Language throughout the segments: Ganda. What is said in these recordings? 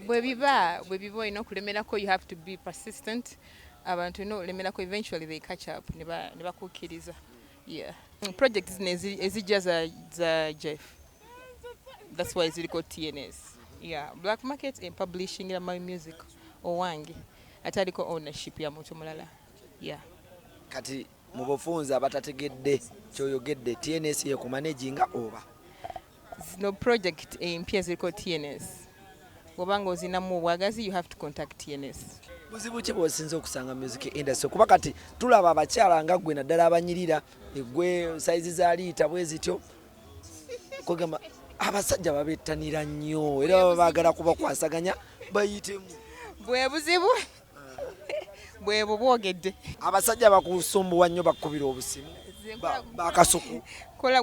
bwe biba bwe biba olina okulemerako you have to be persistent abantu olina okulemerako eventually they catch up ne bakukkiriza yeah project zino ezijja za jeff that's why ziriko tns yeah black market and publishing ya my music owange ate aliko ownership ya muntu mulala yeah kati mu bufunzi abatategedde kyoyogedde tns yekumaneginga oba Zino project empya ziriko TNS. Bwoba nga ozinamu obwagazi you have to contact TNS. Buzibu ki bwosinza okusanga music industry kuba kati tulaba abakyala nga gwe naddala abanyirira egwe saizi za liita bwe zityo kwegamba abasajja babettanira nnyo era baba baagala kubakwasaganya bayitemu bwe buzibu bwebwo bwogedde abasajja bakusumbuwa nnyo bakukubira obusimu bakasuku kola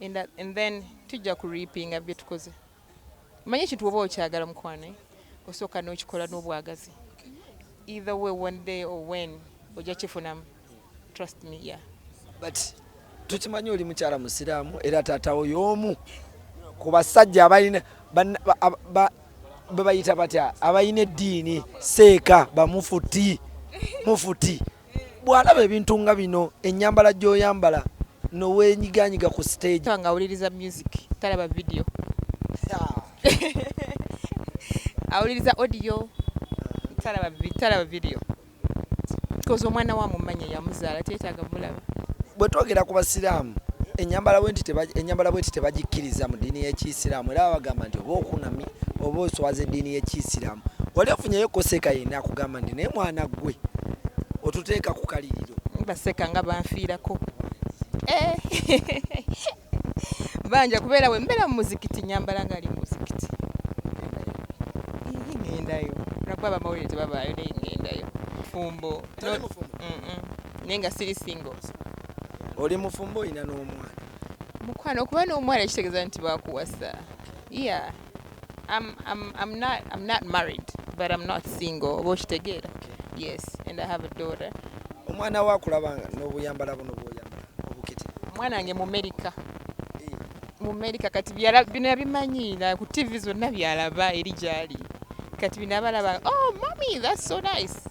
and, uh, and then tujja ku reapinga byetukoze manya ekintu oba okyagala mukwano eh? osooka nokikola n'obwagazi either way one day or when ojja kifunamu trust me yeah but tukimanyi oli mukyala musiraamu era taatawo y'omu ku basajja abalina bebayita batya abalina eddiini seeka bamufuti mufuti bw'alaba ebintu nga bino ennyambala gy'oyambala noweenyiganyiga ku siteegi nga awuliriza music talaba vidiyo awuliriza odiyo talaba vidiyo koza omwana wa mumanya yamuzaala teetaaga mulaba bwe twogera ku basiraamu ennyambala bwenti tebagikkiriza mu ddiini y'ekiyisiraamu era babagamba nti oba okunamye oba oswaza eddiini y'ekiyisiraamu wali ofunyeyo koseeka yenna akugamba nti naye mwana ggwe otuteeka ku kaliriro baseka nga banfiirako eh. banja kubeera we mbeera mu muzikiti nyambala nga ali mu muzikiti ngendayo nakuba bamawulire tebabaayo naye ngendayo fumbo naye nga siri singo oli mufumbo olina n'omwana mukwano okuba n'omwana kitegeeza nti bakuwasa Yeah. I'm, I'm, I'm, not, I'm not married, but I'm not single. Oba okitegeera? Yes, and I have a daughter. Omwana wa kulaba n'obuyambala buno bw'oyambala obukete. Omwana wange mu Amerika. Eh. Mu Amerika kati bino yabimanyi ku TV zonna byalaba eri gyali. Kati bino abalaba, oh mommy, that's so nice.